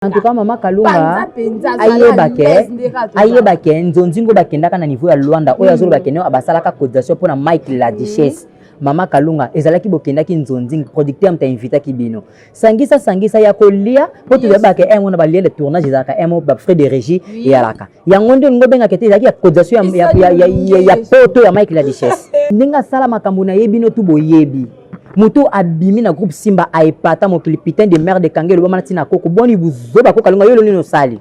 en tout cas mama kalunga ayeba ke ayeba ke nzonzingo bakendaka na niveau ya luanda oyo azoloba hmm. kende abasalaka cotisation mpo na mike la duchesse mama kalunga ezalaki bokendaki nzonzing producteur moto ainvitaki bino sangisa sangisa ya kolia mpo toyebaka yango eh, na balie de tournage ezalaka emo eh, bafrais de régie eyalaka yango nde olingi obengaka te ezalaki ya cotisation ya poto ya mike la duchesse ndenge asala makambo na ye bino tu boyebi moto abimi na groupe simba aepata mokili putain de merde ekangi elobama na ntina koko boni buzoba koko alonga yo lonini osali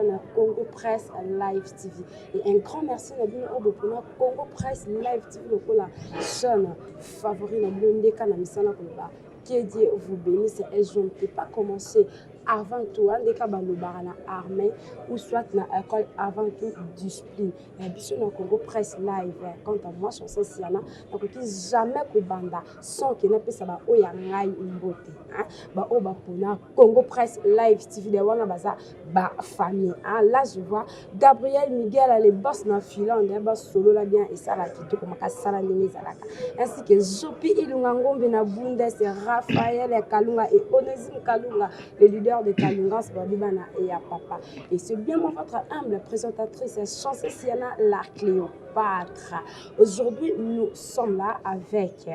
na Congo Press Live TV. Et un grand merci na bino oyo bopona Congo Press Live TV lokola chaîne Favori na bino nde ka na misala koloba que Dieu vous bénisse et je ne peux pas commencer avant tout hein, ndeka balobaka na armée ou soit na école avant tout discipline ya biso na congo presse live hein. quant à moi chanse siana nakoki jamais kobanda sans ke napesa baoyo ya ngai mbote hein. baoyo bapona congo presse live tv de wana baza ba famille hein? là je vois gabriel miguel les boss na finlande hein? basolola bien esala kitoko makasi sala ndenge ezalaka ainsi que zopi ilunga ngombe na bundes raphael ya kalunga et onesime kalunga le leader de kalungas babi bana ya papa et c'est bien moi votre humble présentatrice chanse siana la cléopâtre aujourd'hui nous sommes là avec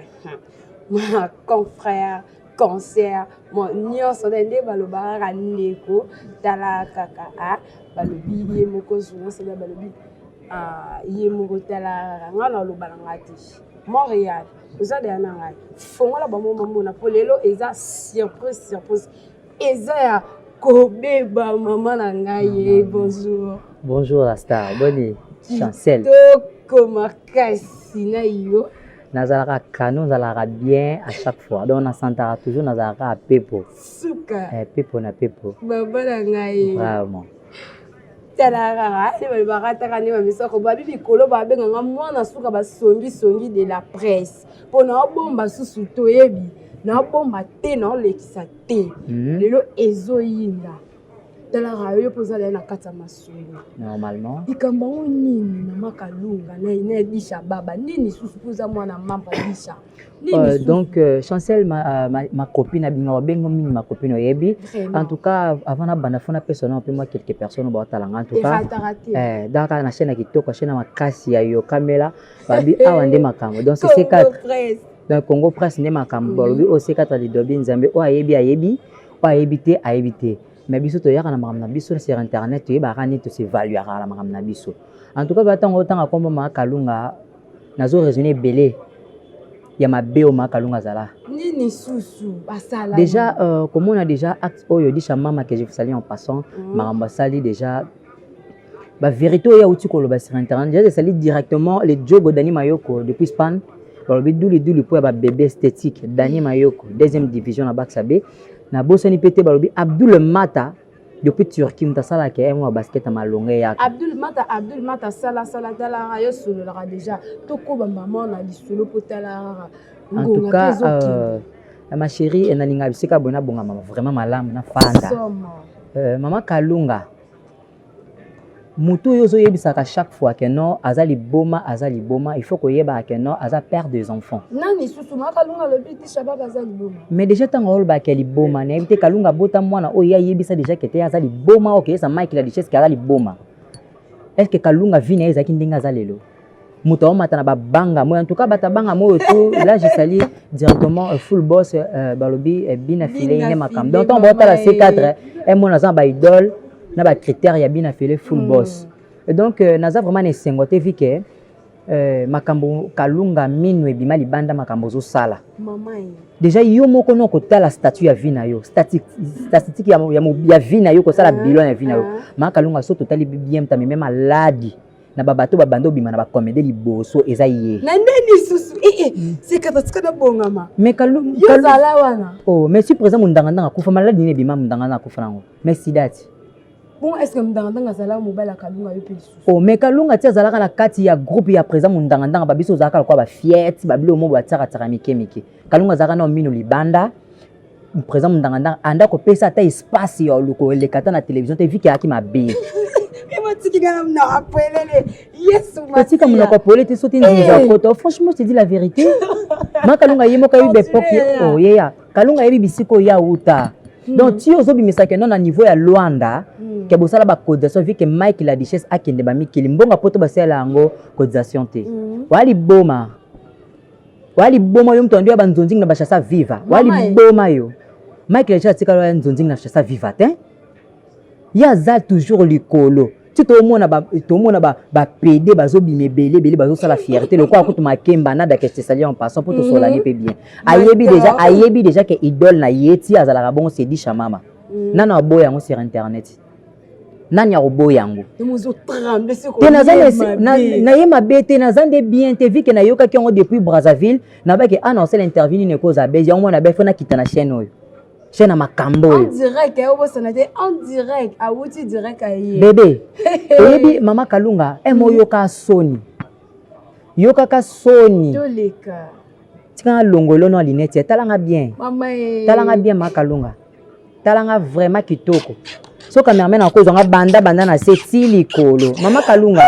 ma confrère concert mo nyonso na nde balobaka kaka ndeko tala kaka a balobi ye moko zulance na balobi ye moko tala kaka ngai naloba na ngai te montréal oza deya na ngai fongola bango bamona mpo lelo eza surprise surprise eza ya kobeba mama na ngai ye bonjour bonjour la star boni chancel kitoko makasi na yo nazalaka kano nazalaka bien à chaque fois donc nasantaka toujours nazalaka kaka pepo suka eh, pepo na pepo baba na ngai vraiment talaka nde balobaka ataka nde bamisoko babi mikolo babenganga mwana suka basongisongi de la presse mpo na obomba susu toyebi naobomba te naolekisa te hmm. lelo ezoyinda talara yo mpe ozala na kati ya masolo normalement likambo yango nini mama kalunga na edisha baba nini susu mpo oza mwana mama edisha Euh, donc euh, chancel ma, euh, ma, ma copine abima babengo mingi ma copine oyebi en tout cas avant nabanda fo napesa na mpe mwa quelques personnes baotala nga en tout cas eh, dans kaka na chaîne ya kitoko ya chaîne ya makasi ya yokamela babi awa nde makambo donc c4 donc congo presse nde makambo balobi o c4 lidobi nzambe oyo ayebi ayebi po ayebi te ayebi te mais biso toyaka na makambo na biso sur internet toyebaka nini tosevaluaka na makambo na biso en tout cas ba ntango otanga nkombo ma kalunga nazo raisonne ebele ya mabe oyo ma kalunga azala nini susu asala déjà euh, komona déjà acte oyo disha mama que je vous salie en passant mm. makambo asali déjà ba verite oyo auti koloba sur internet deja esali directement le jogo dani mayoko depuis span balobi duliduli mpo ya babebe esthétique dani mm. mayoko deuxième division na bakisa be nabosani mpe te balobi abdul mata depuis turquie moto asalaka yango ya basket ya malonga eyaka abdul mata abdul mata sala sala talara yo sololaka deja tokoba mama na lisolo mpo talara en tout cas euh, ma chérie eh, nalinga bisika boye nabonga mama vraiment malamu nafanda euh, mama kalunga mutu oyo ozoyebisaka chaque fois que non aza liboma aza liboma il faut koyebaka que non aza père des enfants nani susu ma kalunga alobi ti shabab aza liboma mais déjà ntango olobaka ke liboma nayebi te kalunga abota mwana oyo ye ayebisa déjà ke te aza liboma oyo keyesa mike la richesse ke aza liboma est ce que kalunga vi na ye ezalaki ndenge aza lelo moto aomata na babanga moi en tout cas bato abanga moi oto là je sali directement euh, full boss euh, balobi euh, bina file ine makambo donc ntango baotala c cadre emona aza na baidole na bacritère ya bina file full mm. boss et donc naza vraiment na esengo te vi ke makambo kalunga minu ebima libanda makambo ozosala déjà yo moko no kotala statut ya vie na yo statistique ya vie na yo kosala ah, bilan ya vie na yo ah. maa kalunga so totali bien tameme maladi na ba bateau ba bande obima na ba comedie liboso eza ye na nde lisusu ee eh, eh, mm. sekata tika na bongama mais kalum yo zala wana oh mais si présent mundanga ndanga kufa malade nini ebima mundanga ndanga kufa nango mais sidati bon est ce que mundanga ndanga azalaka mobali ya kalunga yo mpe lisusu oh mais kalunga ti azalaka na kati ya groupe ya présent mundanga ndanga babiso ozalaka lokola ba fiete babilo mo batiaka tiaka mike mike kalunga azalaka na mino libanda Président Mundanganda anda ko pesa ata espace ya luko elekata na télévision te viki aki mabe. otika monoko apole te soki nzinzi ya poto franchement je te dis la vérité ma kalunga ye moko ayebi bepoke oyeya kalunga ayebi bisika oyo awuta hmm. donc ti ozobimisa kendo na niveau ya luanda hmm. ke bosala bacotisation vi ke mike la duchesse akende bamikili mbongo poto basalela yango cotisation te hmm. oya liboma wa liboma yo moto andi ya banzonzingi na bashasa viva wa liboma yo michael ja atikala ya nzonzingi na shasa viva te ye aza toujours likolo ti tomona tomona bapede bazobima ebele ebele bazosala fierté lokola kutu makemba na dakestesali en passant mpo tosolani mpe mhm. bien ayebi deja ayebi deja ke idole na ye ti azalaka bongo sedisha mama mhm. nano aboya yango sur internet nani akoboya yango te na ye mabe te naza nde bien te vike nayokaki yango depuis brazzaville nabaki ana ah, osala interview nini ekoza bese yango mwana befo nakita na chaîne oyo chaîne ya makambo oyo bebe oyebi mama kalunga eme eh, oyoka soni yokaka soni tika nalongo elono ya linete talanga bien talanga bien makalunga tala nga vraiment kitoko so cameraman akozwa nga banda banda na se ti likolo mama kalunga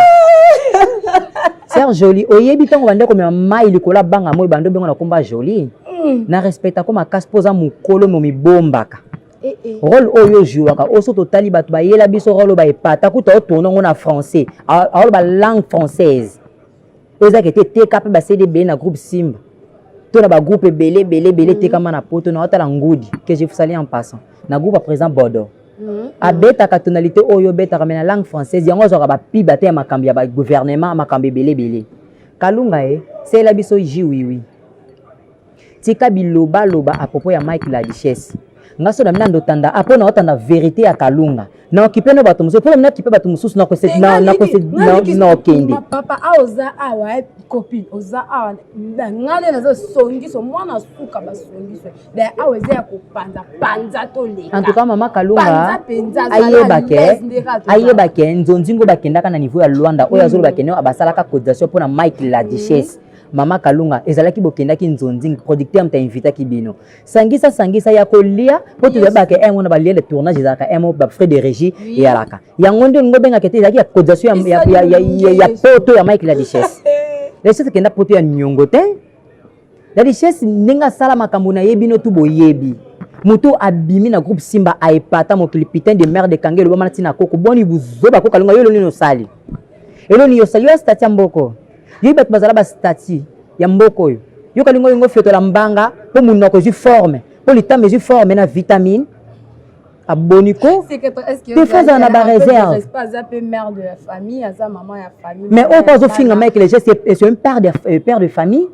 ser joli oyebi ntango banda komema mai likolo ya banga moi banda obengo na komba joli hmm. na respecta ko makasi mpo oza mokolo momibombaka eh, eh. role oyo ojuwaka oyo so totali bato bayela biso role oyo baepata kuta otourne yango na français aoloba langue française oyo ezalaka ete eteka mpe basede ebele na groupe simba to na bagroupe ebele ebele ebele mhm. etekama na poto na otala ngudi que je fusali en passant na groupe ya président bordeaux mhm. abetaka tonalité oyo obetaka me na langue française yango azwaka bapiba te ya makambo ya bagouvernement makambo ebele ebele kalunga ye eh, seyela biso ji wiwi tika biloba loba à propos ya Mike la richesse nga so na mina ndotanda apo na otanda verite ya kalunga na okipe no bato mosusu mpo na mina kipe bato mosusu na kose na na kose na na okende papa a oza awa eh, copine oza awa nga nde naza songiso mwana suka basongiso be awa eza ya kopanza panza toleka en tout cas mama kalunga ayeba ke ayeba ke nzonzingo bakendaka na niveau ya luanda oyo azoloba mm. ke nio abasalaka cotisation mpo na mike la duchesse mm. Mama Kalunga ezalaki bokendaki nzonzing producteur mta invitaki bino sangisa sangisa ya kolia mpo toyebaka un wana balie le tournage ezalaka un mot bafrais de régie eyalaka yango nde olingi obengaka te ezalaki ya cotisation ya, ya, ya, ya, ya poto ya mike la richesse la richesse ekenda poto ya niongo te la richesse ndenge asala makambo na ye bino tu boyebi moto abimi na groupe simba aepata mokili putain de merde ekangi elobama na ntina koko boni buzoba kokalunga yo elonini osali elonini osali yo ya stati ya mboko Yo bato bazala ba statut ya mboka oyo. Yo kalingo yongo fetola mbanga po munoko ezwi forme, po litama ezwi forme na vitamine aboni ko tefazala na bareserve mais oyo mpo azofinga mike le geste est un père de, euh, père de famille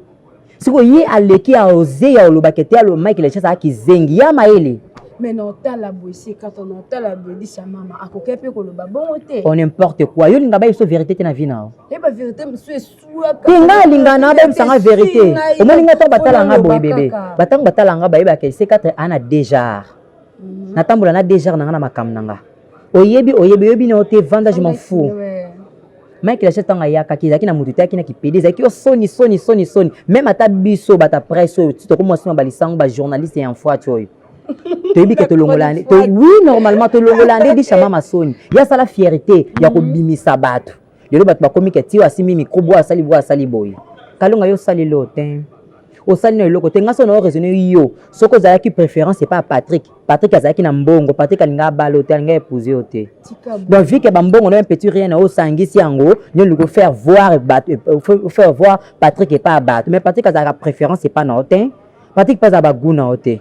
siko ye aleki ya oze ya olobaka ete alo mike lechas aa kizengi ya mayele mais na otala boye sekata na otala boye lisa mama akoki mpe koloba bongo te o n'importe quoi yo linga bayebiso verité te na vi nao yeba eh, verité mosusu esuaka te nga alinga na bayebisa nga verité omoni nga ntango batala nga boye bebe batango batala nga bayebaka sekata ana dejar mhm. natambola na dejar na nga na makambo na nga oyebi oyebi oyebi na yo te vanda je m'en fous mike lacha ntango ayakaki ezalaki na moto eteyaki na kipede ezalaki yo soni soni soni soni meme ata biso bata presse oyo tokomwa nsima balisango bajournaliste ya mfwati oyo toyebi ke tolongola oui normalement tolongola nde bisha mama soni ye asala fierté ya kobimisa bato lelo bato bakomi ke tiyo asimbi mikro bwa asali bwa asali boye kalonga yo osali lo te osali na eloko te ngai so na oraisonne yo soki ozalaki préférence epa patrick patrick azalaki na mbongo patrick alinga abala yo te alinga épouse yo te donc vike bambongo na petit rien na osangisi yango nde olingi ofaire voir ofaire euh, voir patrick epa bato mais patrick azalaka préférence epa na yo te patrick mpe azala bagou na yo te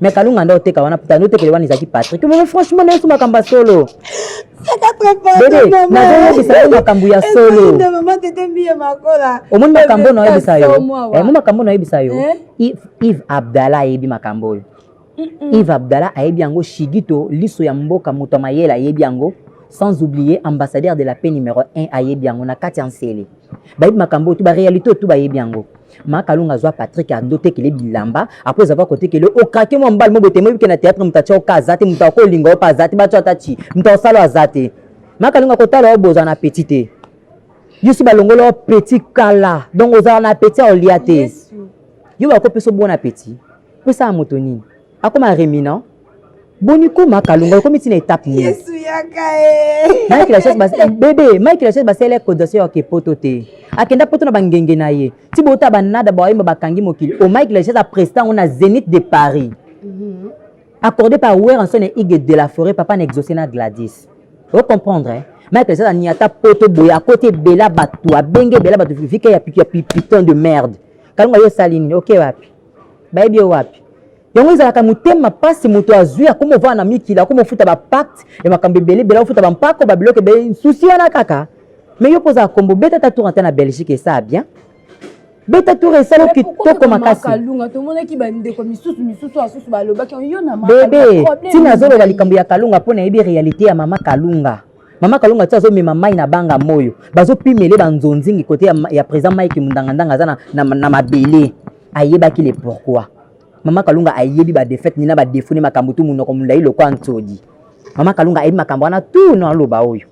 mais kalunga nda oteka wana puta nde otekele wana ezalaki patrik mais franchement na yesu makambo ya solo bebe nazoyebisa yo makambo ya solo omoni makambo na oyebisa yo omoni makambo na oyebisa yo ive abdala ayebi makambo oyo ive abdala ayebi yango shigito liso ya mboka moto ya mayele ayebi yango sans oublier ambassadeur de la paix numéro 1 ayebi yango na kati ya nsele bayebi makambo oyo tu baréalité oyo tu bayebi yango makalunga azwa patrik ado tekele bilamba apres avoir kotekele okake mwa mbali mo botemoyi bike na théâtre moto atya oka aza te moto akolinga opa aza te batyo ata ti moto akosalo aza te makalunga kotala yo boza na petit te yesu balongoli yo petit kala donc ozala na petit aolia te yo bakopesa obona petit pesa ya moto nini akoma reminant boni koma kalunga ekomi ntina etape nini yesu yaka e mike la chaise bas bebe mike la chaise basele cotisation ya ke poto te akenda poto na bangenge na ye ti bota banada baoyemba bakangi mokili o mike la chaise apresta yango na zenith de paris accordé par weranson et igue de la forêt papa na exaucé na gladys o comprendre eh? mike la chaise aniata poto boye akoti ebela bato abenge ebela bato vike ya piton de merde kalunga yo osali nini oke wapi bayebi yo wapi yango ezalaka motema mpasi moto azwi akoma ovanda na mikili akoma ofuta bapacte ya makambo ebele ebele ofuta bampako babiloko ebele susi wana kaka mai yo kozala kombo beta ta tour ata na belgique esaa bien beta tour esala kitoko makasikalunga tomonaki bandeko misusu misusu asusu balobaki yo na bebe ntina azoloba likambo ya kalunga mpo nayebi réalité ya mama kalunga Mama Kalonga ti azomema mai na banga moyo bazopimele banzonzingi kote ya, ya président Mike Mundangandanga aza na, na, na mabele ayebaki le pourquoi Mama Kalonga ayebi ba défaite ni na ba défaut ni makambo tu munoko mulai lokwa nsodi Mama Kalonga ayebi makambo wana tu na loba oyo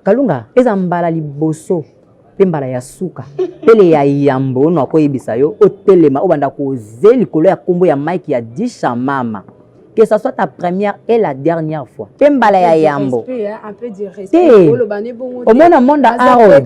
Kalonga eza mbala liboso mpe mbala ya suka pele ya yambo ono akoyebisa yo otelema obanda koze likolo ya nkombo ya mike ya disha mama que ça soit ta première et la dernière fois mpe mbala ya yambo te omona monde art oyo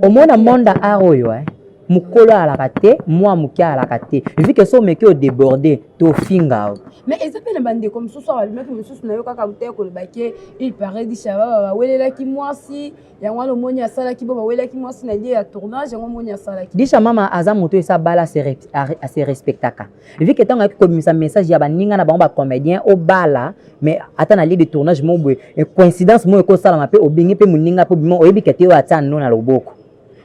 omona monde art oyo eh? mokolo ayalaka te mwa moke ayalaka te evi ke so omeki odeborde tofinga yo mais eza mpe na bandeko mosusu awa alobaki mosusu na yo kaka te koloba ke il parait di shababa bawelelaki mwasi yango wana omoni asalaki bo bawelelaki mwasi na lie ya tournage yango omoni asalaki disha mama aza moto esa bala ase respectaka evi ke ntango ayaki kobimisa message ya baninga na bango bacomédien obala mais ata na lie de tournage mo boye coïncidence moyo ekosalama mpe obengi mpe moninga mpe obima oyebi ke te oyo atia no na loboko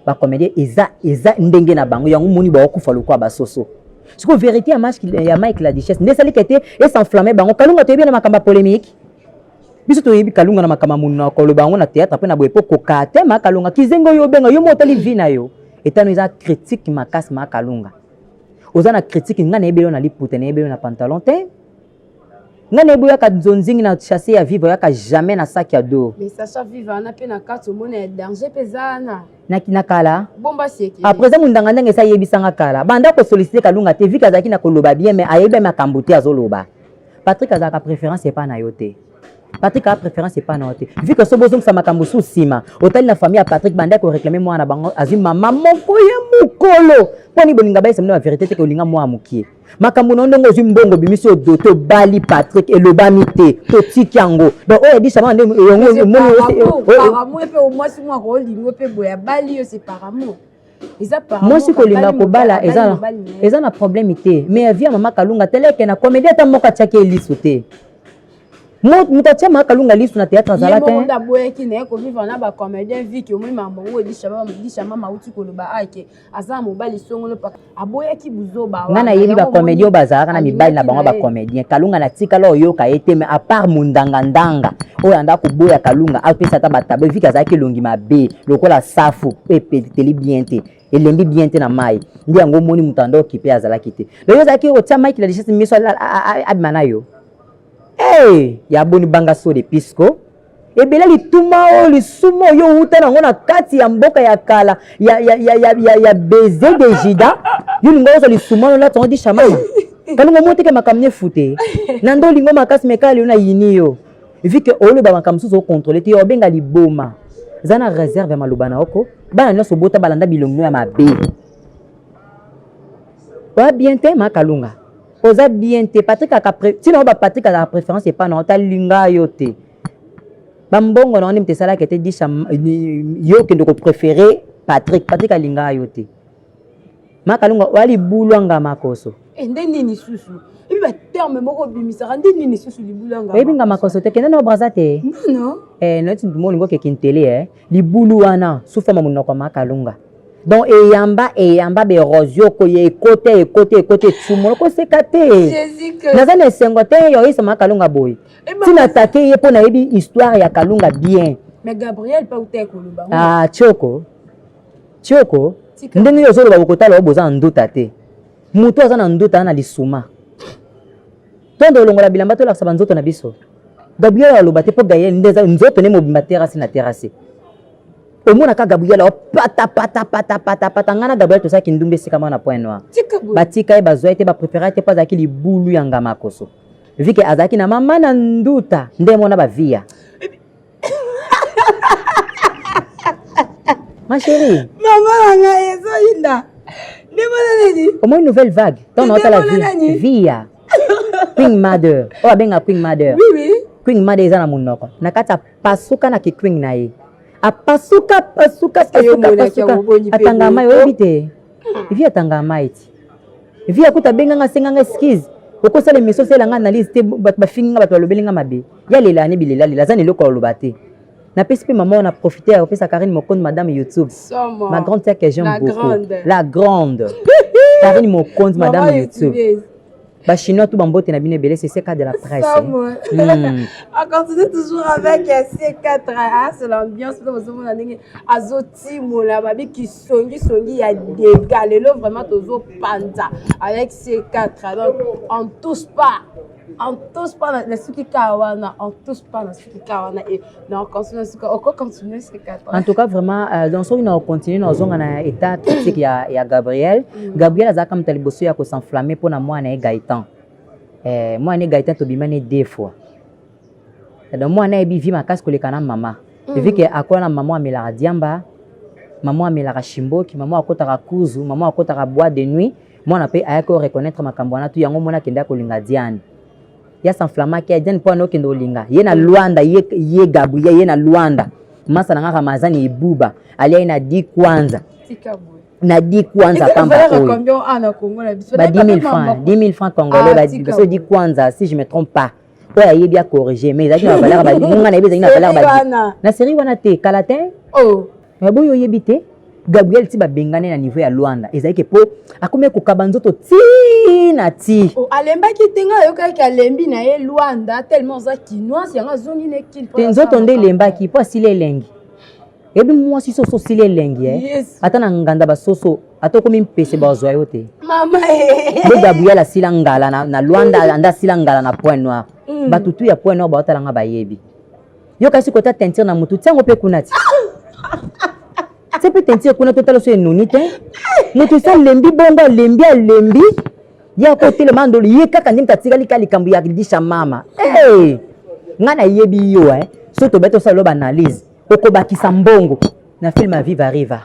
ba comédien eza eza ndenge na bango yango moni baokufa lokola basoso sikoyo vérité ya mike ya mike la duchesse nde esalika ete esenflamme bango kalunga toyebi ye na makambo ya polémique biso toyebi kalunga na makambo ya monuna koloba yango na théâtre mpe na boye mpo kokaa te ma kalunga kizengi oyo obenga yo mo otali vi na yo etano eza critique makasi ma kalunga oza na critique ngai nayebeli yo na liputa nayebeli yo na pantalon te nga na ye boyaka nzonzingi na chasse ya viva oyaka jamais na sac ya do mais sacha viva wana mpe na kati omona ya danger mpe eza wana na kala bomba sieki après eza mondangandanga esi ayebisanga kala banda kosolicite kalunga te vike azalaki na koloba bien mais ayebi makambo te azoloba patrik azalaka préférence epai na yo te patrik aa préférence epai na yo te vike so bozongisa makambo su nsima otali na famille ya patrik banda koreklame mwana na bango azwi mama moko ya mokolo mpo ni bolinga bayesa mino ya verité te kolinga mwana mokie makambo na yo ndenge ozwi mbongo obimisi odo tobali patrik elobami te totiki yango donc oyo yadisama nde mwasi kolinga kobala eza na problème te mais ya via mama kalunga teleke na komedi ata moko atiaki ye liso te moto atya maka kalunga lisu na théâtre azala te aboyaki naye kovivre na bacomédien viki omoni makambo yango edishama mauti koloba ake aza mobali songolo paka aboyaki buzoba nga nayebi bacomédien oyo bazalaka na mibali na bango bacomédien kalunga na tikala oyoka ye te mais apart mondangandanga oyo anda koboya kalunga apesa ata batabo eviki azalaki elongi mabe lokola safu oyo epeteli bien te elembi bien te na mai nde yango omoni moto anda okipe azalaki te lelo ozalaki otya mike la richesse miso abima na yo e ya boni banga so de pisco ebele lituma oyo lisuma oyo outa nango na kati ya mboka ya kala ya, ya, ya, ya, ya, ya beze de jida yo lingo ozwa lisuma lona tongo dishamama kalongo moteke makambo nefute na ndo olingo makasi mekala lelo na yini yo vu ke oloba makambo mosusu okontrole te yo obenga liboma za na réserve ya maloba na oko bana nyonso obota balanda bilongo ya mabe oya bien te makalunga oza bien te patrik aka ntina oyo bapatrik azaka préférence epa na ota linga yo te bambongo na yo nde moto esalaka ete disha yo okende kopréféré patrik patrik alinga yo te makalunga oya libulu anga makoso eh, nde nini susu ebi baterme moko obimisaka nde nini susu libulu anga oyebi nga makoso te kende na obraza te nono eh, noti nduma olingi okekintele eh. libulu wana sufama monoko makalunga donc eyamba eyamba berosio koye ekota ekota ekota etumola koseka te naza na esengo te yoyisama kalunga boye eh, ntina atake ye mpo nayebi histoire ya kalunga bien ah, tioko tioko ndenge yo ozoloba bokotala yo boza na nduta te motu aza na nduta na lisuma tondo olongola bilamba tolakisa banzoto na biso gabriel aloba te mpo gael nde nzoto nde mobimba terase na terase omonaka gabriel pata pata pata pata pata ngai na gabriel tozalaki ndumba esika mwana point noir batika ye bazwa ye te baprefera te mpo azalaki libulu ya ngamakoso vike azalaki na mama na nduta nde mona baviya ma chérie mama na ngai ezoyinda nde mona nini omoi nouvelle vague ntango naotala viya queen mother oyo abenga queen mother queen mother eza na monoko na kati ya pasuka na kiquing na ye apasuka pasuka pasuka pasuka atanga mai oyebi te vi atanga mai ti vi akuta abenga nga asenga nga excuse okosala emission osala nga analyse te bato bafingi nga bato balobeli nga mabe ya lela ne bilela lela aza na eloko aloba te napesi mpe mama wana profite ya kopesa karine mokondi madame youtube ma grande sœur que j'aime beaucoup la grande karine mokondi madame youtube Ba chinois tout bambote na bino ebele c'est CK de la presse. Hmm. On continue toujours avec CK hein, c'est l'ambiance pour vous mona ndenge azo timola ba bi ki songi songi ya dega lelo vraiment tozo panza avec CK donc on touche pas on touche pas na suki kawana on touche pas na en tout cas vraiment euh, donc soki na continue na ozonga na état critique ya, ya gabriel mm. gabriel azalaka moto ya liboso ya kosenflamme mpo na mwana ye gaetan eh, mwana ye gaetan tobima ne deux fois donc mwana ayebi vi makasi koleka na mama mm. vi ke akola na mama amelaka diamba mama amelaka shimboki mama akotaka kuzu mama akotaka bois de nuit mwana mpe ayaki oreconnaitre makambo wana tu yango mwana akendaki kolinga diane ya s'enflamma ke jen mpo anokende olinga ye na luanda ye, ye gabriel ye na luanda masa na nga ramazani ebuba alia ye na di kwanza na di kwanza pamba oyo ba 10000 francs 10000 francs congolais ah, baso di kwanza si je me trompe pas oyo ayebi acorrige mais ezalaki na bavaleur nga nayebi ezalaki na valeur na série wana te kala te oh. Mais boyo yebi te Gabriel ti babengane na niveau ya Luanda ezali ke po akomi kokaba nzoto ti na ti oh, alembaki te ngai ayokaki alembi na ye Luanda tellement aza kinoise yango azongi na ekili te nzoto nde elembaki po asili elengi ebi mwasi soso osili elengi eh? yes. ata na nganda basoso ata okomi mpese bazwa yo te eh. bo gabriel asila ngala na, na luanda anda asila ngala na point noir mm. batutu ya point noir baotala nga bayebi yo kasi kota teinture na motu tiango mpe kuna ti se mpe teinture kuna totala so enuni te motu esi alembi bongo alembi alembi ye akotelema ndolo ye kaka nde moto atikali ka likambo ya lisha mama hey! ngai nayebi yo eh? so tobeti osala lo baanalyse okobakisa mbongo na film ya viva riva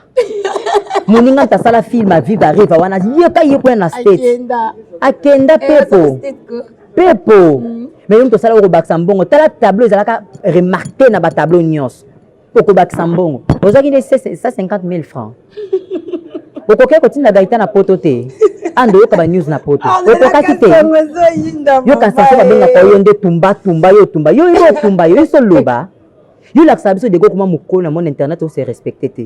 moninga nta asala film ya viva riva wana yeka ye kuna na state akenda eh, pepo pepo mm. mais yo moto osala okobakisa mbongo tala tableau ezalaka remarke na batableau nyonso okobakisa mbongo ozwaki nde 150 000 francs okokaki kotinda gaita na poto te ando yoka banews na poto ah, okokaki te yoka nsanso babengaka yo nde tumba tumba yo tumba yo yo otumba yo yo soloba yo lakisa biso dego okoma mokolo na mona internet ose respecte te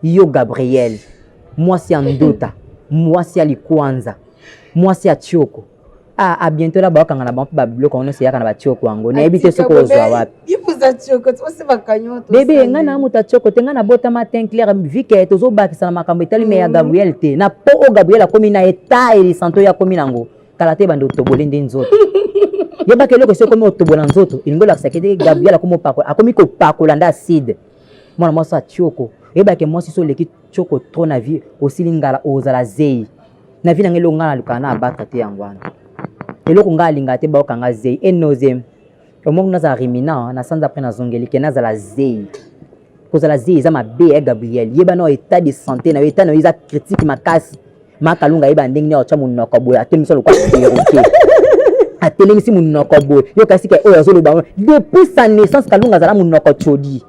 yo gabriel mwasi ya ndota mwasi ya likwanza mwasi ya tioko ah, a ah, bientôt la bakanga na bango mpe babiloko yango nyonso eyaka na batioko yango nayebi te soki ozwa wapi bebe ngai na moto atioko te ngai nabotama tin claire vike tozobakisa na makambo etali me ya mm. gabriel te na po oyo gabriel akomi na eta elisanto ye akomi nango kala te bande otoboli nde nzoto yebaka eloko esi ekomi otobola nzoto elingi olakisa kete gabriel akomi opakola akomi kopakola nde acide mwana mwasi ya tioko oyebake mwasi so oleki tioko tro na vie osili ngala ozala zei na vie na ngai eloko ngai nalukaka na abaka te yango wana eloko ngai alingaka te baokanga zei enozem omoni nazala rimina na sanza apres nazongeli ke nazala zei kozala zei eza mabe ya eh, gabriel yeba nao etat de santé na yo etat na yo eza critique makasi makalunga yeba ndenge nini otya monoko boye atelemisa lokola perroquet atelemisi monoko boye yokasi ke oyo azoloba ngo depuis sa naissance kalunga azala monoko codi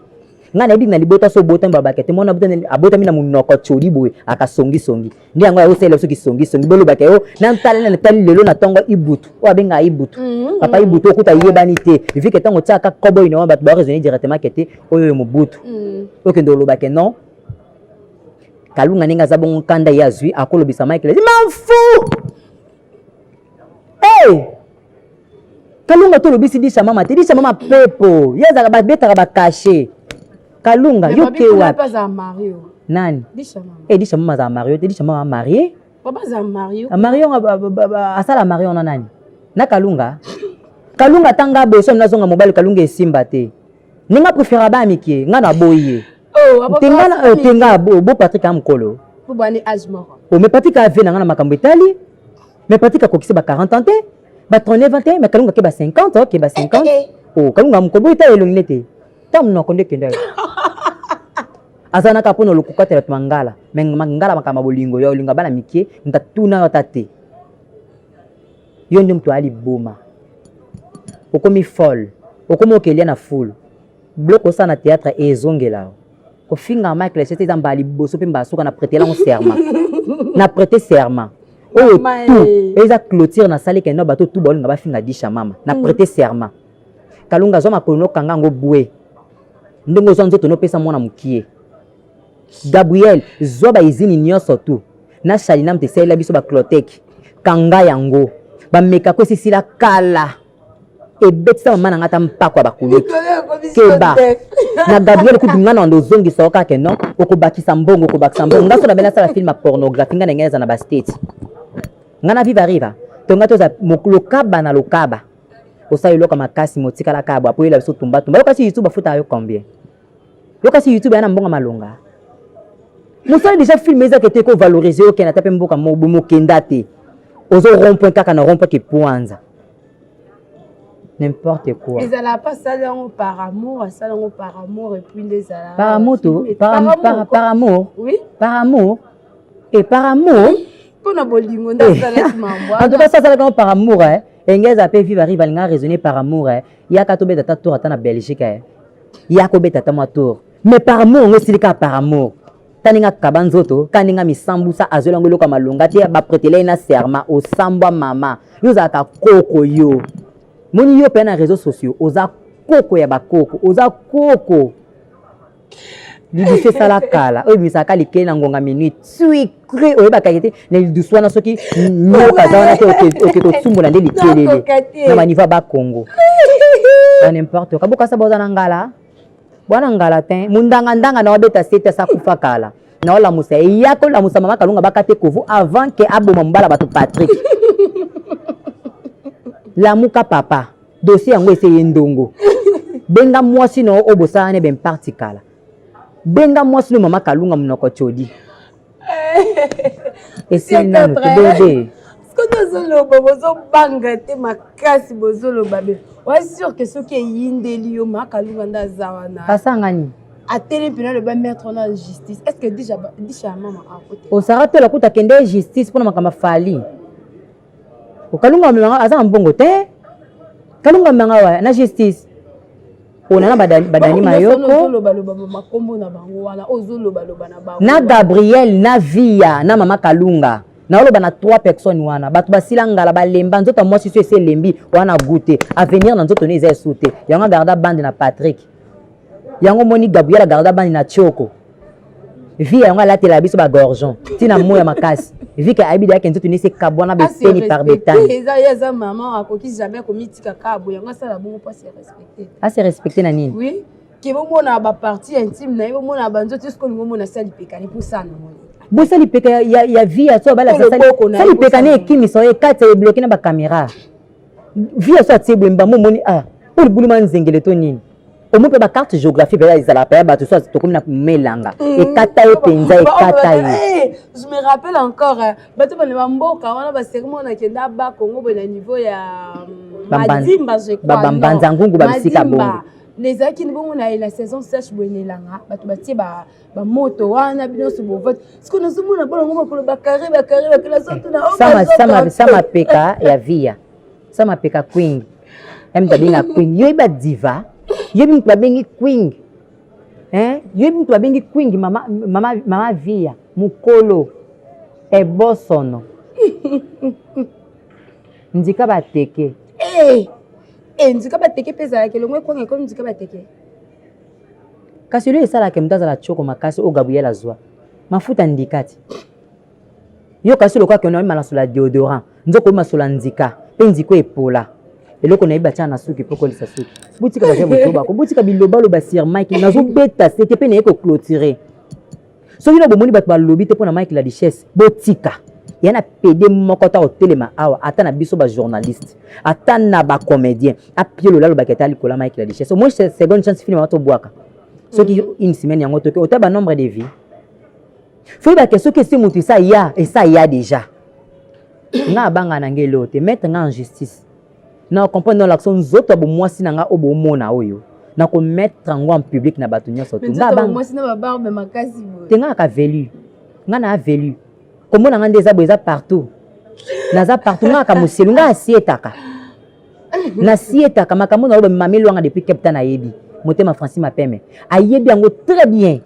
ngai nayebi na libota so obotami babake te mwana abotami na monoko codi boye akasongisongi nde yango yakosalela biso kisongisongi bolobaka yo natalana natali lelo na ntongo ibutu oyo abengaka ibutu mhm, papa mhm. ibutu okuta ayebani te vike ntango otiaka kobo ino wana bato baresone directement ke te oyo oyo mobutu mhm. okende olobake non kalunga ndenge aza bongo nkanda ye azwi akolobisa michael ezi manfu e kalunga tolobisi disha mama te disha mama pepo ye azalaka babetaka bakashe Kalunga, yo ke wapi? Nani? Edisha mama azala mario te, Edisha mama marie. Papa azala mario. Mario asala mario na nani? Na Kalunga. Kalunga tanga boso na zonga mobali Kalunga esimba te. Ninga prefera ba mikie, nga na boyi ye. Oh, tenga na euh, tenga bo bo Patrick amkolo. Bo bani age moko. Oh, mais Patrick a vie na nga na makambo etali. Mais Patrick akokisi ba 40 ans te. Ba 39 ans te, mais Kalunga ke ba 50, ke ba 50. Eh, eh, eh. Oh, Kalunga mkolo boyi ta elongi nete. ta munoko nde kenda yo aza naka mpo na lokukatela mangala me mangala makama bolingo yo olinga bana mike moto atuna yo ata te yo nde moto aya liboma okomi folle okomi okelia na fulu bloko osala na théâtre ezongela yo kofinga mike lechete eza mbala liboso mpe mbala suka na prete elango serment na prete serment oyo tu eza clôture nasali kende na bato tu baolinga bafinga disha mama na prete serment kalunga zwa makolo nokanga yango bwe ndenge ozwa nzoto nopesa mwana mokie gabriel zwa baizini nyonso tu na shalinam te esalela biso bacloteke kanga yango bamekako esisila kala ebetisa mama na ngai ata mpako ya bakuluki keba na gabriel kutu ngai na ndozongisa yo kaka non okobakisa mbongo okobakisa mbongo ngai so na bene asala film ya pornographie ngai na ngai eza na bastate ngai na viva riva to ngai toza lokaba na lokaba osala eloko makasi motikala kaka bwa poyela biso tumba tumba yokasi youtube afutaka yo combien yokasi youtube ya na mbongo malonga mosala deja filme ezaka te kovalorize okenda ata mpe mboka mobo mokenda te ozo rompoint kaka na rompoint kipuanza n'importe quoi ezala pa asali yango par amour asali yango par amour epuis nde ezala par amour par amour oui par amour e par amour mpo na bolingo nde asalaki mambo en tout cas asalaka ngo par amour eh engels ape viva riva alinga raisonner par amour eh yaka tobeta ta tour ata na belgique eh ya kobeta ata mwa tour mais par amour yango esili kaka par amour taninga kaba nzoto kaninga misambusa azwela yango eloko ya malonga te bapretele ye na serma osambwa mama yo ozalaka koko yo moni yo mpe na réseau sociaux oza koko ya bakoko oza koko lidusu esala kala oyo ebimisaka likei na ngonga minute sucre oyebaka ye te na lidusu wana soki nyoka aza wana te oke kosumbola nde likelele na banivo ya bakongo na nimporte oka bokasa boza na ngala bwana ngala te mondangandanga na wabeta sete asa kufa kala na olamusa ye ya kolamusa mama kalunga bakate kovu avant ke aboma mobala bato patrick lamuka papa dossier yango ese ye ndongo benga mwasi na yo oyo bosalana ben parti kala benga mwasi no mama kalunga monoko codi esili nanu te bebe soki bozoloba bozobanga te makasi bozoloba be oa sur ke soki eyindeli yo mama kalunga nde aza wana basangani atele mpena aloba maître wana justice est ce que disha mama akote osara tola kuta kende justice mpona makambo afali kalunga amemanga aza na mbongo te kalunga amemanga wa na justice pona na badani mayoko na gabriel na via na mama kalunga naoloba na trois personnes wana bato basila ngala balemba nzoto ya mwasi so esi elembi wana gu te avenir na nzoto ne eza esu te yango agarda bande na patrick yango omoni gabriel agarda bande na tioko vie yango alatela biso ba gorgeon ntina mo ya makasi vie ke ayebi deyake nzoto nisi ekabwana beteni par betani eza ye aza mama akoki jamais komitika kabo yango asala bongo mpo ase respecte ase respecte na nini oui ke bomona bapartie intime na ye bomona banzoto soki olingi omona asali pekani mpo saa na moni bosa lipeka ya, ya, ya vie ya so balakisa sali lipeka na ekimisa oyo ekati ebloke na bakamera vie aso atie boye mbambo omoni a ah, oyo libuluma nzengele to nini omo mpe bacarte géographie mpenza ezalaka mpenza bato so tokomi na melanga mm. ekata ye mpenza ekata ye eh, je me rappelle encore eh, bato bana bamboka wana baseri mwana akenda aba kongo boye na niveau ya mm, madimba jebambanza ngungu babisika bongo ezalaki bongo na saison sèche boye na elanga bato batie bamoto wana bino nyonso bovati sikoyo nazomona bana ngo makolo bakare bakare bakela zotunasa mapeka ya viya sa mapeka queen yami babenga queen yo yeba diva yo mutu babengi queen yo mutu babengi queen mama, mama, mama viya mokolo ebosono ndika bateke hey! Eh, hey, eh, ndika bateke mpe ezalaka elongo ekwanga ekomi ndika bateke kasi olio esalaka moto azala tioko makasi oyo gabriel azwa mafuta ndikati yo kasi lokola kende oyema nasola deodorant nzoko oyemasola nzika mpe nziko epola eloko nayebi batyaka na suki mpo okolisa suki botika baza botobako botika bilobaloba sir mike nazobeta sete mpe naye koclotire soki no bomoni bato balobi te mpo na mike la richesse botika ya na pede moko ata kotelema awa ata na biso bajournaliste ata na bacomédien apie lolalobaki ata likola mike la richesse omoi seconde chance film wato obwaka soki mm. une semaine yango toki ota banombre de vie foyebake soki esi moto esa ya esa ya déjà nga abanga na ngai eloo te maître nga en justice Na comprendre na lakso nzoto ya bomwasi na nga oyo bomona oyo na ko mettre yango en public na bato nyonso te nga bang mwasi na ba barbe makasi boye te nga ka velu nga na velu komona nga nde eza boye eza partout naza partout nga ka moselu nga asietaka nasietaka makambo na oyo bamameli wanga depuis capta nayebi motema francis mapeme ayebi yango très bien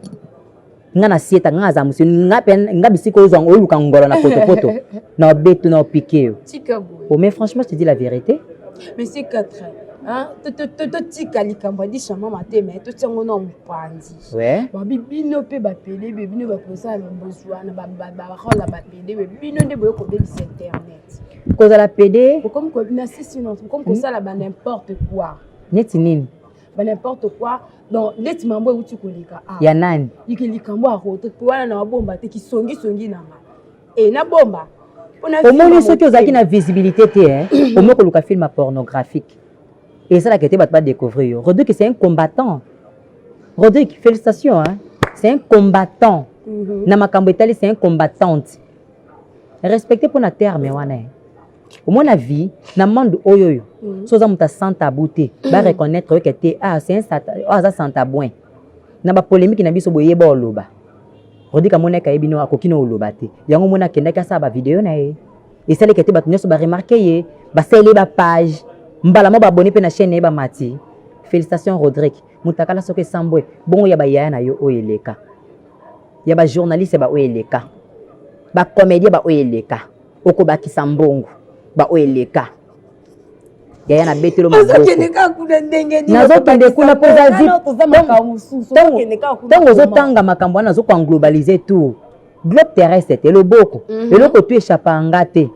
nga na sieta nga aza musi nga pe nga bisiko ozo ngo luka ngolo na poto poto na beto na piqué yo oh mais franchement je te dis la vérité mais c'est 4 hein to to to to tika likambo adi chama mate mais to tiango na mupanzi ouais ba bibino pe ba pele be bino ba posa na bozwa na ba ba ba rola ba pele be bino nde boyo ko bebisa internet kozala pede comme ko na sisi non comme ko sala ba n'importe quoi neti nini ba n'importe quoi donc ndeti mambo euti koleka ah. ya nani yike likambo ya rote mpo wana na babomba te kisongisongi na nga e nabomba omoni soki ozalaki na visibilité te eh? omoki koluka film pornographique esalaka ete bato badécouvrir yo rodrigue c'est un combattant rodrigue félicitation hein? c'est un combattant mm -hmm. na makambo etali c'est un combattante respecte mpo na terme wana eh? omona vie na monde oyo oyo mhm. so oza moto sans tabou te mhm. ba reconnaître yo ke te ah c'est un sata oh, aza sans tabouin na ba polémique na biso boye ba oloba Rodi Kamona ka yebino akoki na oloba te yango mona kendaki asala ba video na ye esaleki te bato nyonso baremarke ye basali ye ba page mbala mo babone mpe na chaîne na ye bamati félicitation rodrigue mutakala soki esambwe bongo ya bayaya na yo oyo eleka ya bajournaliste baoyo eleka bacomédien baoyo eleka okobakisa mbongo baoyo eleka yaya na betelo mabokonazokende kuna mpozatango ozotanga makambo wana nazoko englobalize tour globe terrestre te loboko mhm. eloko tu echappa nga te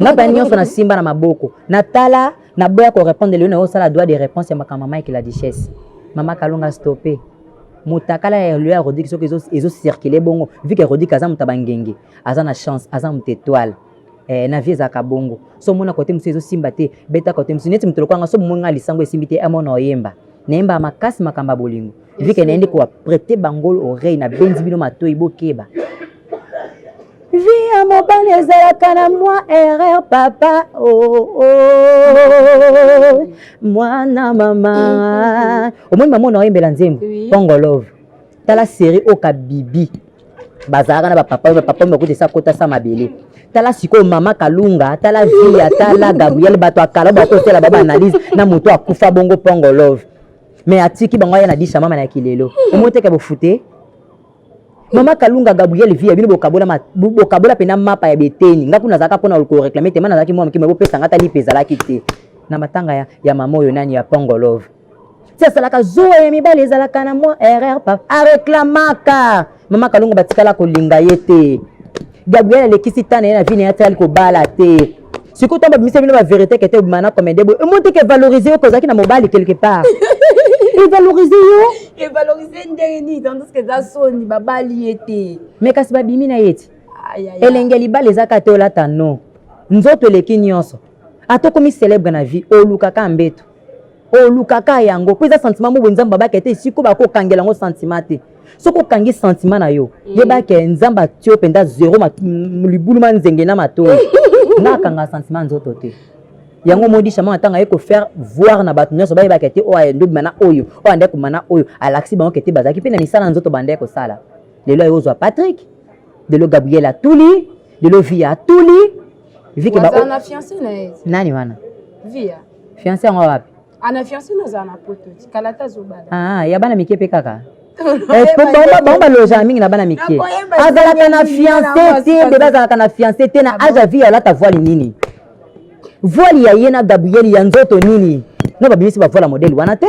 nga ba nyonso nasimba na maboko natala naboya korépondre lelo nayosala droit de réponse ya makambo mama ekela duchesse mama kalonga stoppe motakala ya loi ya rodrigue soki ezocircule bongo vike rodrigue aza moto ya bangenge aza na chance aza moto etoile eh, na vie ezalaka bongo so omona kote mosusu ezosimba te beta kote mosusu neti moto lokwanga so bomoi ngai lisango esimbi te amona oyemba nayembaka makasi makambo ya bolingo vike nayende kowa prete bangolo oreille nabenzi bino matoi bokeba vie ya mobali ezalaka na mwa erreur papa oh, oh, mwana mama omoni mama ona oyembela nzembo pongolove tala seri oka bibi bazalaka na bapapa oyo bapapa oyo bakuti esa kota sa mabele tala sikoyo mama kalunga tala via tala gabriel bato ya kala bakosela ba baanalyse na moto akufa bongo pongo love me atiki bango aya na disha mama na kilelo omoteke bofute mama kalunga gabriel via bino bokabola bokabola mpena mapa ya beteni nga kuna nazalaka mpona koreklame te ma nazalaki mwa mokima bopesa nga talipe ezalaki te na matanga ya, ya mama oyo nani ya pongo love ti asalaka zuwa ya mibali ezalaka na mwa erreur pa areklamaka mama kalongo batikala kolinga ye te gabriel alekisi ta na ye na vi na ye atikali kobala te sikoyo ntango babimisa bino baverité kete obima na comédie boye omoni te ke valorize yo kozalaki na mobali quelque part evalorize yo evalorize ndenge nini tandis ke eza soni babali ye te me kasi babimi na ye ti elenge libala eza kaka te olata no nzoto eleki nyonso ata okomi célèbre na vie olukaka mbeto olukaka yango mpo eza sentiment moko nzambe abaki ete esiko bakokangela yango sentiment te soki okangi sentiment na yo mm. yebaki nzambe atio mpenza zero libulu ma nzenge na matoi nga akanga sentiment nzoto te yango omoni shama ntango aye kofaire voir na bato nyonso bayebaka te oyo aye ndobima na oyo oyo andai kobima na oyo alakisi bango kete bazalaki mpe na misala nzoto bandai kosala lelo aye ozwa patrick lelo gabriel atuli lelo via atuli vike ba nani wana via fiance yango wapi ah, na fiance nazala na poto tikala ata zobala ah, ya bana mike mpe kaka eh, bango balojaka mingi na bana mike azalaka na fiance te bebe azalaka na fiance te na ah age ya vie alata voile nini voile ya ye na gabriel ya nzoto nini no babimisi bavoile modele wana te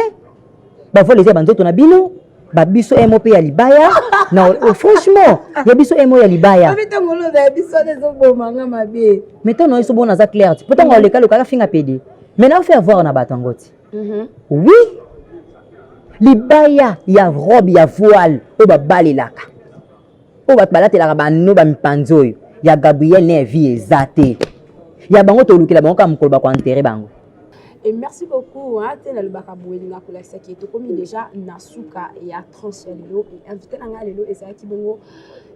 bavole eza ya banzoto na bino ba biso mo mpe ya libaya na oh, franchement ya biso mo ya libaya mais ntango na biso bona aza claire ti mpo ntango aleka loka akafinga pede mais na faire voir na bato yango ti mhm. oui libaya ya robe ya voile oyo babalelaka oyo bato balatelaka bano bamipanzi oyo ya gabriel ne vie eza te ya bango tolukela bango kaka mokolo bakoantere bango Et merci beaucoup hein, te nalobaka boye elinga kolakisa ke tokomi deja na suka ya tranche ya lelo e invité na ngai lelo ezalaki bongo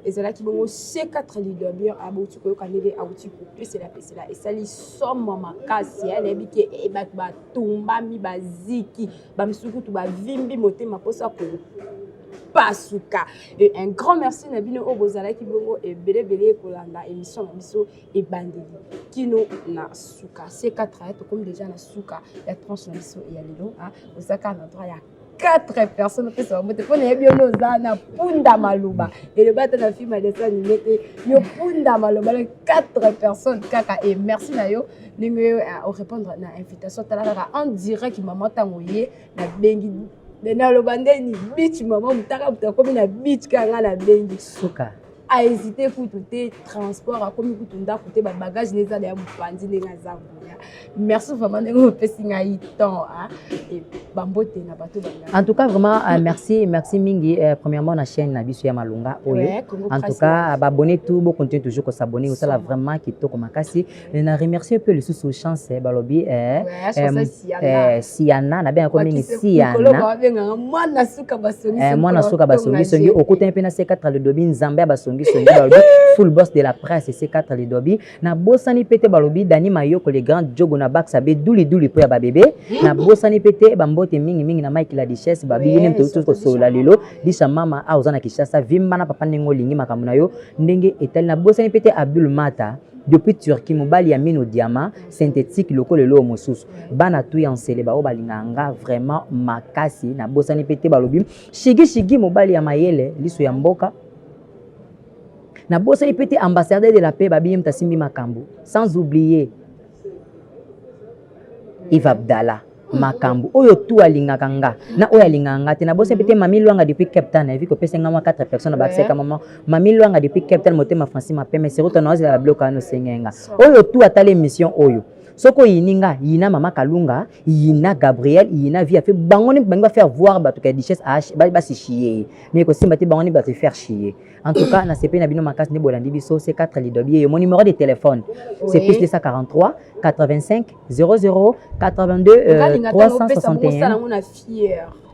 ezalaki bongo c4 leader bien abouti koyoka ndenge auti kopesela pesela esali somo makasi nayebi te bato batumbami baziki bamisusu kutu bavimbi motema mposa kopasuka e un grand merci na bino oyo bozalaki bongo ebelebele kolanda émission na biso ebandeli kino na suka c4 tokomi deja na suka ya tranche na biso ya lelo ozaka na droit ya 4 personnes opesa bango te mpo nayebi yo nde oza na punda maloba eloba ata na filme ya dessin anime te yo punda maloba le 4 personnes kaka e merci na yo ndenge yo eh, orépondre na invitation tala kaka en direct mama ntango ye nabengi naloba nde ni bich mama motaka moto akomi na bich kaka ngai nabengi suka ahésite kutu te transport akomi kutu ndako te babagage na ezala ya mopanzi ndenge aza boya merci vraiment ndenge opesi ngai temps bambote na bato en tout cas vraiment euh, merci merci mingi euh, premièrement na chaîne na biso ya malonga oyo en tout cas babonne tout bocontinue toujours kosabonne osala vraiment kitoko makasi Eh, na remercie mpe lisusu chance eh, balobi eh, siana nabengako mingi sianamwana suka basongisongi okutani mpe na c4 lidobi nzambe ya basongisongi balobi full boss de la presse c4 lidobi nabosani mpe te balobi dani mayoko le grand jogo na baksa be duliduli mpo ya babebe hmm. nabosani mpe te bambote mingimingi na mike la dichesse babiyini moto tosi kosolola lelo disha mama a oza na kinshasa vimba na papa ndenge olingi makambo na yo ndenge etali nabosani mpe te abdul mata Depuis Turquie mobali ya mino diamant synthétique lokola eloko mosusu bana tu ya nsele baoyo balingaka nga vraiment makasi nabosani mpe te balobi shigi shigi mobali ya mayele liso ya mboka nabosani mpe te ambassadeur de la paix babi ye moto asimbi makambo sans oublier Yves Abdallah makambo oyo tu alingaka nga na oyo alingaka nga te na bosi pete mami lwanga depuis cape town evi kopesa nga mwa 4 personnes na bakisaka mama mami lwanga depuis cape town motema franci mapeme seruta na ozela babiloko wana osenge nga oyo tu atala émission oyo soki oyini nga yina mama kalunga yina gabriel yina via fe bango ni bangi bafaire voir bato ka duchesse basishie ye mais ekosimba te bango ni bato faire chie en tout cas nasepeli na bino makasi nde bolandi biso c4 lidobi ye yo mo numéro de téléphone c'est plus 243 85 00 82 euh, 361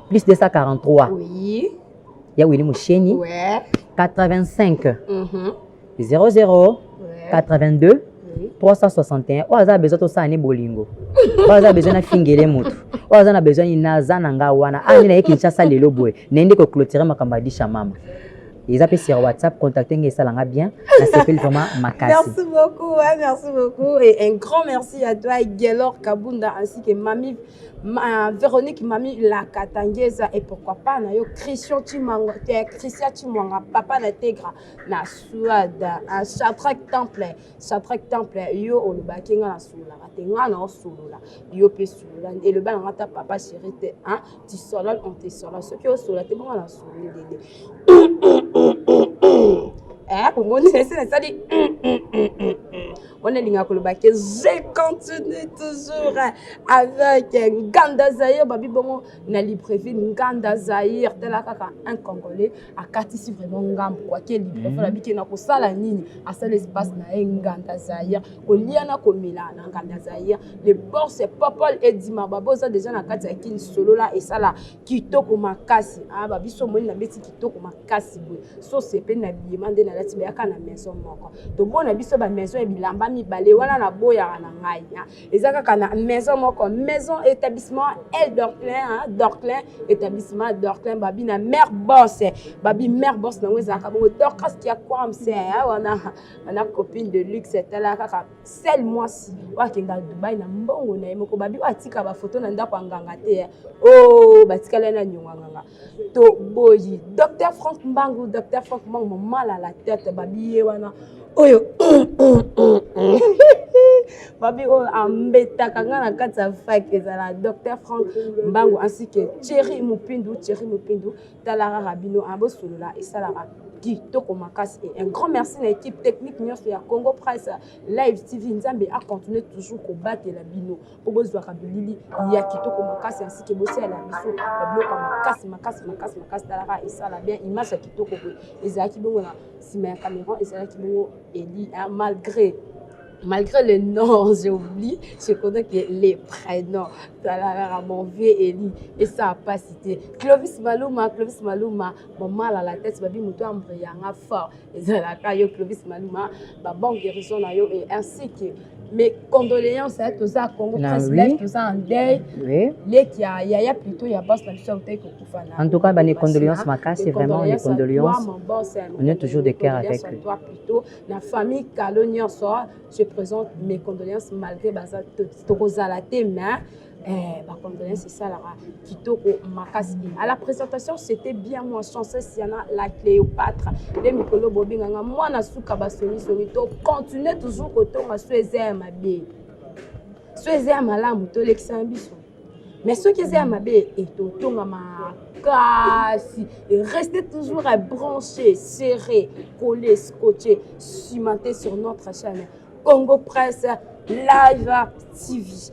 plus 243 oui. ya Willy Moucheni ouais. 85 mm -hmm. 00 ouais. 82 361 oyo aza na besoin tosala ne bolingo oyo aza na besoin nafingele motu oyo aza na besoin nini naza na ngai wana angi ah, na ye kinshasa lelo boye naye nde koclotire makambo ya disha mama eza mpe sur whatsapp contacte ngai esala nga bien nasepeli vraiment makasi merci beaucoup hein, merci beaucoup et un grand merci à toi gelor kabunda ainsi que mami ma, véronique mami la katangesa et pourquoi pas na yo christian chimanga eh, christian chimwanga papa na tegra na suade un chatrak temple chatrak temple yo olobaki nga na sololaka te nga na osolola yo mpe solola eloba na nga ta papa chéri te hein? tu sola on te sola soki osola te bongo nasoli lele eh, omoni esi nasali wana elingaka koloba ke je continue toujours avec nganda zaire babi bongo na librevie nganda zaire tala kaka un congolais akatisi vraiment ngambo kwake librevie alabi ke nakosala nini asala espace na ye nganda zaire kolia na komela na ngambi ya zaire le borse popol edima baba oza deja na kati ya kini solola esala kitoko makasi a ah, babiso omoni na beti kitoko makasi boye sose mpe na biyema nde nalati bayaka na maison moko tobona biso bamaison ya bilamba mibale wana na boyaka na ngai ah. eza kaka na maison moko maison établissement el dorclin ah, dorclin établissement dorclin babi na mare borse babi mare borse nango ezalaka bongo dorcas kiakwamse wana ana copine de luxe tala kaka sel mwasi oyo akenda dubai na mbongo na ye moko babi oyo atika bafoto na ndako ya nganga te eh. o oh, batikala na nyongo ya nganga toboyi docteur frank mbangu docteur frank mbangu momala la tete babi ye wana oyo babi oyo ambetaka ngai na kati ya fake ezala docteur frank mbangu ainsi que thierry mopindu thierry mopindu tala kaka bino hein, bosolola esalaka kitoko makasi et un grand merci na équipe technique nyonso ya congo price live tv nzambe acontinue toujours kobatela bino mpo bozwaka bilili ya kitoko makasi ainsi ke bosalela biso babiloko ya makasi makasi makasi makasi talaka esala bien image ya kitoko boye ezalaki bongo na nsima ya cameron ezalaki bongo eli malgré malgré les noms, j'oublie, je connais que les prénoms. Talara, mon vieux Eli, et ça a pas cité. Clovis Maluma, Clovis Maluma, mon mal à la tête, babi moutou ambrianga fort. Et Zalaka, yo, Clovis Maluma, ma bonne guérison, yo, et ainsi que mes condoléances à tous à Congo presse live tous en deuil oui. les qui a ya ya plutôt ya boss na biso autai kokufa na en tout cas ba les condoléances makasi vraiment les condoléances on est toujours de cœur avec eux na famille kalo nyonso je présente mes condoléances malgré baza tokozala te mais eh, bacondoléance esalaka kitoko makasi à la présentation c'était bien moi chancesse yana la cléopâtre nde mikolo bobenganga mwana suka basomisoni to continue toujours kotonga so eza ya mabe so eza ya malamu tolekisana biso mais soki eza ya mabe etotonga makasi reste toujours à brancher serré coller scotché cimenté sur notre chaîne congo presse live tv